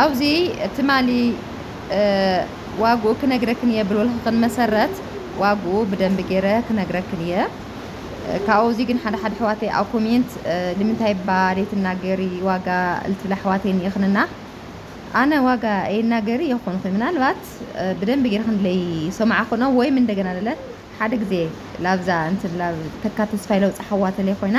ኣብዚ ትማሊ ዋግኡ ክነግረክን እየ ብልወልክን መሰረት ዋግኡ ብደንቢ ገይረ ክነግረክን እየ ካብኡ እዚ ግን ሓደ ሓደ ኣሕዋተይ ኣብ ኮሜንት ንምንታይ እባ ዘይትናገሪ ዋጋ ልትብላ ኣሕዋተይ እኒኤክንና ኣነ ዋጋ ኣይናገሪ የኮንኩ ምናልባት ብደንቢ ገይረ ክንለይ ሰማዕክኖ ወይም እንደገና ለለ ሓደ ግዜ ላብዛ እንትን ላብ ተካ ተስፋይ ለውፃ ሓዋተለይ ኮይና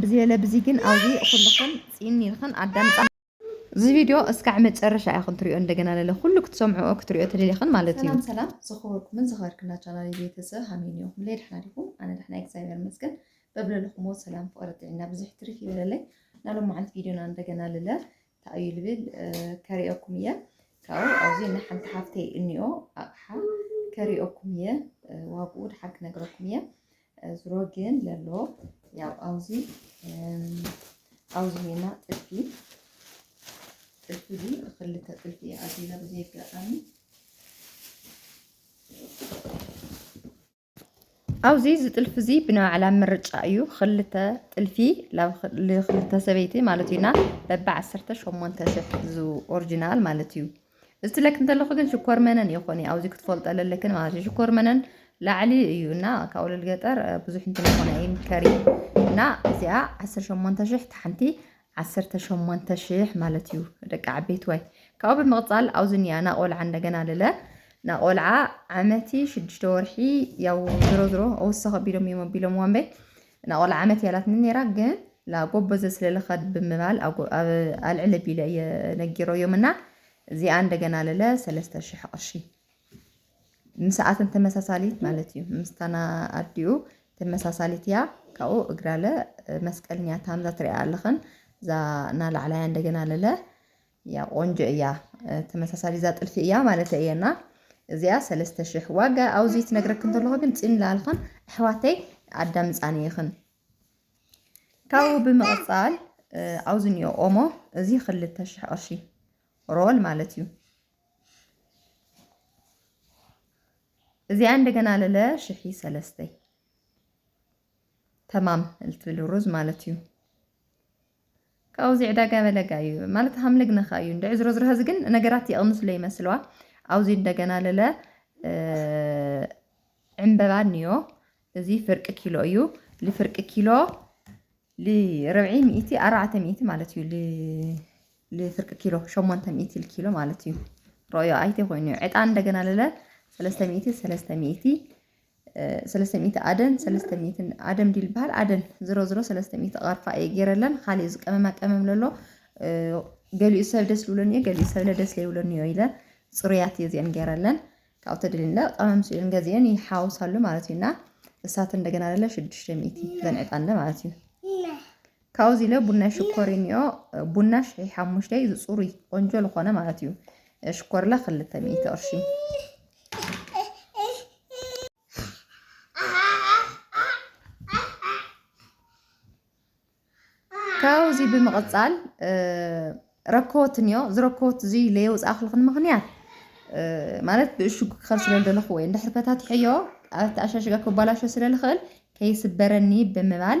ብዝየለ ብዚ ግን ኣውዚ ኩልኽን ጺን ኢልኽን ኣዳምጻ። እዚ ቪድዮ እስካዕ መጨረሻ ኢኽን ትሪኦ እንደገና ለለ ኩሉ ክትሰምዕኦ ክትሪኦ ተደሊኽን ማለት እዩ። ሰላም ሰላም ዝኸበርኩምን ዝኸበርክና ቻናል ቤተ ሰብ ሃመይ ኒኹም ለይ ድሕና ዲኹም ኣነ ድሕና እግዚኣብሔር መስገን በብለለኹሞ ሰላም ፍቕሪ ጥዒና ብዙሕ ትሪፍ ይበለለይ ናሎም መዓልት ቪድዮና እንደገና ልለ ታእዩ ልብል ከሪኦኩም እየ ካብኡ ኣብዚ ናይ ሓንቲ ሓፍተይ እኒኦ ኣቕሓ ከሪኦኩም እየ ዋግኡ ድሓር ክነግረኩም እየ ዝሮ ግን ለሎ ያው ኣውዚ ኣውዚ ሄና ጥልፊ ጥልፊ እዚ ብክልተ ጥልፊ እየ ኣዚዛ ብዘይ ኣጋጣሚ ኣብዚ እዚ ጥልፊ እዚ ብናይ ባዕላ ምርጫ እዩ ክልተ ጥልፊ ክልተ ሰበይቲ ማለት እዩና በቢ ዓሰርተ ሸሞንተ ሰፍ ኦሪጂናል ማለት እዩ ዝትለኪ እንተለኹ ግን ሽኮር መነን እየ ኮኒ ኣብዚ ክትፈልጦ ለለክን ማለት እዩ ሽኮር መነን ላዕሊ እዩ እና ካብ ወለል ገጠር ብዙሕ እንትን ይኾነ ይምከር እዩ እና እዚኣ ዓሰርተ ሸሞንተ ሽሕ ታሓንቲ ዓሰርተ ሸሞንተ ሽሕ ማለት እዩ ደቂ ዓበይቲ ወይ ካብኡ ብምቕፃል ኣብዚ እኒኣ ናቆልዓ እንደገና ልለ ናቆልዓ ዓመቲ ሽዱሽተ ወርሒ ያው ዝሮ ዝሮ ወሰኸ ቢሎም እዮም ኣቢሎም ዋንበይ እና ቆልዓ ዓመት እያ እላትኒ ነይራ ግን ላ ጎበዘ ስለ ልኸድ ብምባል ኣብ ኣብ ኣልዕል ቢለ እየ ነጊረዮም እና እዚኣ እንደገና ለለ ሰለስተ ሽሕ ቅርሺ ምስኣተን ተመሳሳሊት ማለት እዩ ምስታና ኣዲኡ ተመሳሳሊት እያ ካብኡ እግራለ መስቀልኛ ታምዛ ትሪኣ ኣለኽን እዛ ናላዕላያ እንደገና ለለ እያ ቆንጆ እያ ተመሳሳሊ እዛ ጥልፊ እያ ማለት እየ እና እዚኣ ሰለስተ ሽሕ ዋጋ ኣብዚ ትነግረክ እንተለኹ ግን ፂን ላልኽን ኣሕዋተይ ኣዳምፃኒ ይኽን ካብኡ ብምቕፃል ኣብዚ እኒኦ ኦሞ እዚ ክልተ ሽሕ ቅርሺ ሮል ማለት እዩ እዚኣ እንደገና ለለ ሽሒ ሰለስተይ ተማም ልትብል ሩዝ ማለት እዩ ካውዚ ዕዳጋ በለጋ እዩ ማለት ሀምልግ ነካ እዩ እንደ ዕዝሮ ዝረሀዚ ግን ነገራት የቕንስሎ ይመስለዋ አውዚ እንደገና ለለ ዕንበባ ንዮ እዚ ፍርቂ ኪሎ እዩ ልፍርቂ ኪሎ ልርብዒ ሚእቲ ኣርባዕተ ሚእቲ ማለት እዩ ልፍርቂ ኪሎ ሸሞንተ ሚእቲ ልኪሎ ማለት እዩ ሮዮ ኣይተ ኮይኑ ዕጣን እንደገና ለለ ሰለስተ ሚእቲ ሰለስተ ሚእቲ ሰለስተ ሚእቲ ኣደን ሰለስተ ሚእትን ኣደም ድዩ ዝበሃል ኣደን ዝሮ ዝሮ ሰለስተ ሚእቲ ቐርፋ እየ ገይረለን ካሊእ ዝቀመማ ቀመም ለሎ ገሊኡ ሰብ ደስ ልብለኒ እዮ ገሊኡ ሰብለ ደስ ለይብለኒ እዮ ኢለ ፅሩያት እየ እዚአን ገይረለን ካብኡ ተደሊለ ቀመም ስእን ገዚአን ይሓውሳሉ ማለት እዩና እሳት እንደገና ለለ ሽዱሽተ ሚእቲ ዘንዕጣለ ማለት እዩ ካብኡ እዚ ኢለ ቡናይ ሽኮር እኒኦ ቡና ሽሒ ሓሙሽተ እዩ ዝፅሩይ ቆንጆ ዝኾነ ማለት እዩ ሽኮርላ ክልተ ሚእቲ ቅርሺ ካብዚ ብምቕፃል ረከወት እኒኦ እዚ ረከወት እዚ ለየውፃእኽልኽን ምኽንያት ማለት ብእሽጉ ክኸል ስለ ዘለኹ ወይ እንድሕር ፈታትሐዮ ኣተኣሻሽጋ ክባላሾ ስለ ዝኽእል ከይስበረኒ ብምባል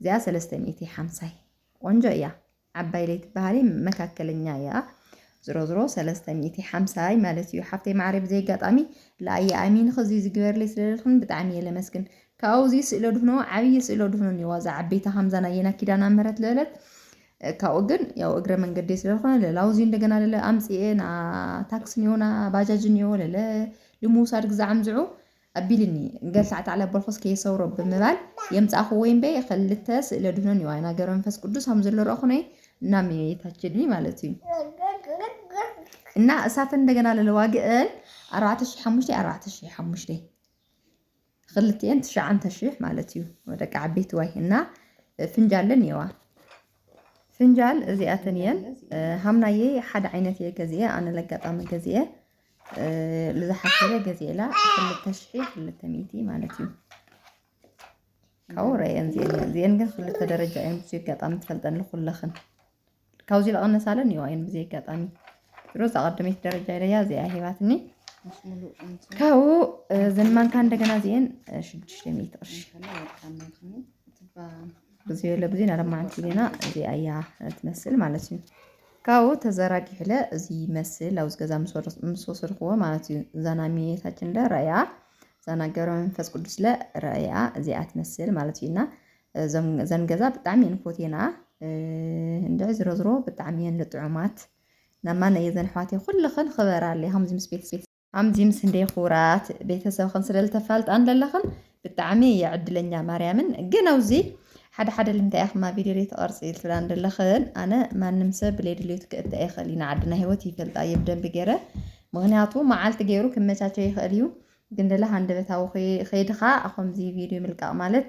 እዚኣ ሰለስተ ሚእቲ ሓምሳይ ቆንጆ እያ ዓባይ ለይትበሃሊ መካከለኛ እያ ዝሮዝሮ ሰለስተ ሚእቲ ሓምሳይ ማለት እዩ ሓፍተይ ማዕረ ብዘይ ኣጋጣሚ ለኣየ ኣሚን ኸዚ ዝግበርለይ ስለደልኽን ብጣዕሚ እየ ለመስግን ካብኡ እዚ ስእሎ ድፍኖ ዓብዪ ስእሎ ድፍኖ እኒዋ እዛ ዓበይታ ከምዛ ናየና ኪዳና ምህረት ልዕለት ካብኡ ግን ያው እግረ መንገዴ ስለዝኾነ ለላውዚ እንደገና ለለ ኣምፅኤ ና ታክሲ ኒዮ ና ባጃጅ ኒዮ ለለ ልምውሳድ ግዛዕምዝዑ ኣቢልኒ ገል ሳዕ ተዕለበልኩስ ከየሰውሮ ብምባል የምጻእክዎ እምበይ ኸልተ ስእለ ድህኖን ዮዋይ እና ገብረ መንፈስ ቅዱስ ኣም ዘሎ ረእኹነይ እና መየታችድኒ ማለት እዩ እና እሳተን እንደገና ለለዋግእን ኣርባዕተ ሽሕ ሓሙሽተይ ኣርባዕተ ሽሕ ሓሙሽተይ ክልትኤን ትሽዓንተ ሽሕ ማለት እዩ ወደቂ ዓበይቲ ዋይ እና ፍንጃለን እየዋ ፍንጃል እዚኣተን እየን ሃምናየይ ሓደ ዓይነት እየ ገዚኤ ኣነ ለጋጣሚ ገዚኤ ልዝሓሰበ ገዜላ ክልተ ሽሒ ክልተ ሚእቲ ማለት እዩ ካብኡ ረአን ዜን ዜን ግን ክልተ ደረጃ እየን ብዙ ኣጋጣሚ ትፈልጠን ንኩለኽን ካብዚ ዝቐነሳለን እዩ ኣይን ብዘይ ኣጋጣሚ ድሮ ዝቐደመት ደረጃ ኢለያ እዚኣ ሂባትኒ ካብኡ ዘንማንካ እንደገና ዜን ሽዱሽተ ሚእቲ ቅርሺ ብዙ የለ ብዙ ናለማዓንቲ ዜና እዚኣ እያ ትመስል ማለት እዩ ካብኡ ተዘራጊሑለ እዚ ይመስል ኣብዚ ገዛ ምስ ወሰድኩዎ ማለት እዩ እዛ ናይ እመቤታችንለ ራእያ እዛ ናይ ገብረ መንፈስ ቅዱስለ ራእያ እዚኣ ትመስል ማለት እዩ እና እዘን ገዛ ብጣዕሚ እየን ፎቴና እንድዒ ዝሮ ዝሮ ብጣዕሚ እየን ልጥዑማት ናማ ነየዘን ኣሕዋተይ ኩልኽን ኽበራለይ ከምዚ ምስ ቤት ኣምዚምስ እንዴ ኩራት ቤተሰብኽን ስለ ልተፋልጣን ለለኽን ብጣዕሚ እየ ዕድለኛ ማርያምን ግን ኣውዚ ሓደ ሓደ ልምንታይ ኢኽማ ቪድዮ ዘይትቐርፂ ትብላን ዘለኽን ኣነ ማንም ሰብ ብለይ ድልዮት ክእተ ኣይኽእል ኢና ዓድና ሂወት ይፈልጣ እየ ብደንቢ ገይረ ምክንያቱ መዓልቲ ገይሩ ክመቻቸው ይኽእል እዩ ግን ደለ ሃንደበታዊ ከይድኻ ከምዚ ቪድዮ ምልቃቕ ማለት